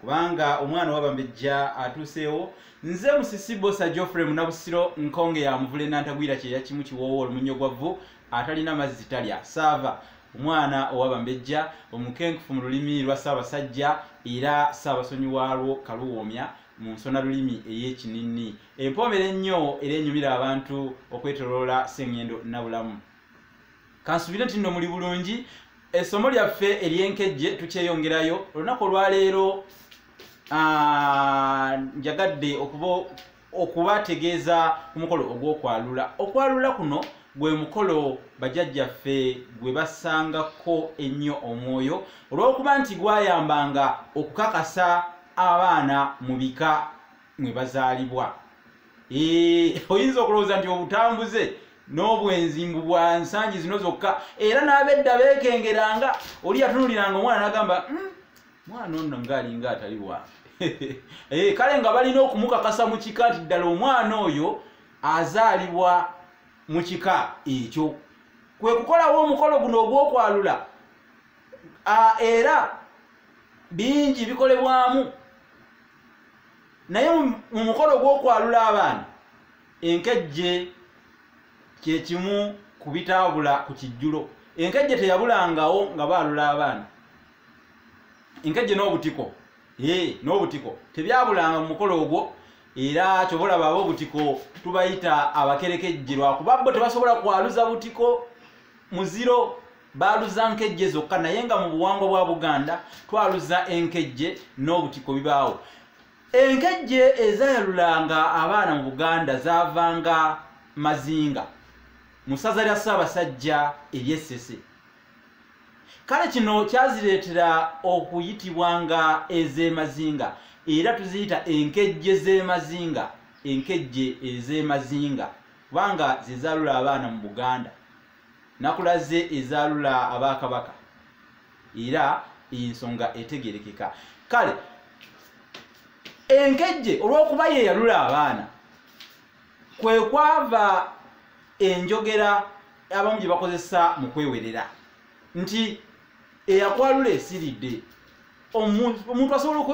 kubanga omwana owabambejja atuuseewo nze musisi bosa geoffrey munabusiro nkonge yamuvule nantagwira kyeya kimu kiwoowo olumunyo gwa vvu atalina mazzi talya saava omwana owabambejja omukenkufu mu lulimi lwa ssaabasajja era ssaabasonyi waalwo kaluwoomya mu nsona lulimi ey'ekinini empoomera ennyo era enyumira abantu okwetoloola sengendo nabulamu kansubire nti nno muli bulungi essomo lyaffe eryenkejje tukyeyongerayo olunaku olwaleero ah, njagadde okuba okubategeeza ku mukolo ogw'okwalula okwalula kuno gwe mukolo bajajjaffe gwe basangako ennyo omwoyo olw'okuba nti gwayambanga okukakasa abaana mu bika mwe bazaalibwa oyinza okulowooza nti obutambuze n'obwenzi mbu bwa nsangi zino zokka era n'abedda beekengeranga oli yatunuliranga omwana n'agamba hmm, mwana ono ngaalinga atali wange eh, kale nga balina okumukakasa mu kika nti ddala omwana oyo azaalibwa mu kika ekyo kwe kukolawo omukolo guno ogw'okwalula era bingi bikolebwamu naye mu mukolo gw'okwalula abaana enkejje kyekimu ku bitaabula ku kijjulo enkejje teyabulangawo nga baalula abaana enkejje n'obutiko ee n'obutiko tebyabulanga mu mukolo ogwo era kyoba olaba ab'obutiko tubayita abakerekejje lwakuba bo tebasobola kwaluza butiko muziro baaluza nkejje zokka naye nga mu buwangwa bwa buganda twaluza enkejje n'obutiko bibaawo enkejje ezayalulanga abaana mu buganda zaavanga mazinga mu ssaza lya ssaabasajja eryessese kale kino kyazireetera okuyitibwa nga ez'emazinga era tuziyita enkejje z'emazinga enkejje ez'emazinga kubanga zezaalula abaana mu buganda nakulaze ezalula abakabaka era ensonga etegerekeka kale enkejje olwokuba yeyalula abaana kwekwava enjogera abamu gye bakozesa mu kwewerera nti eyakwalula esiridde omuntu asobola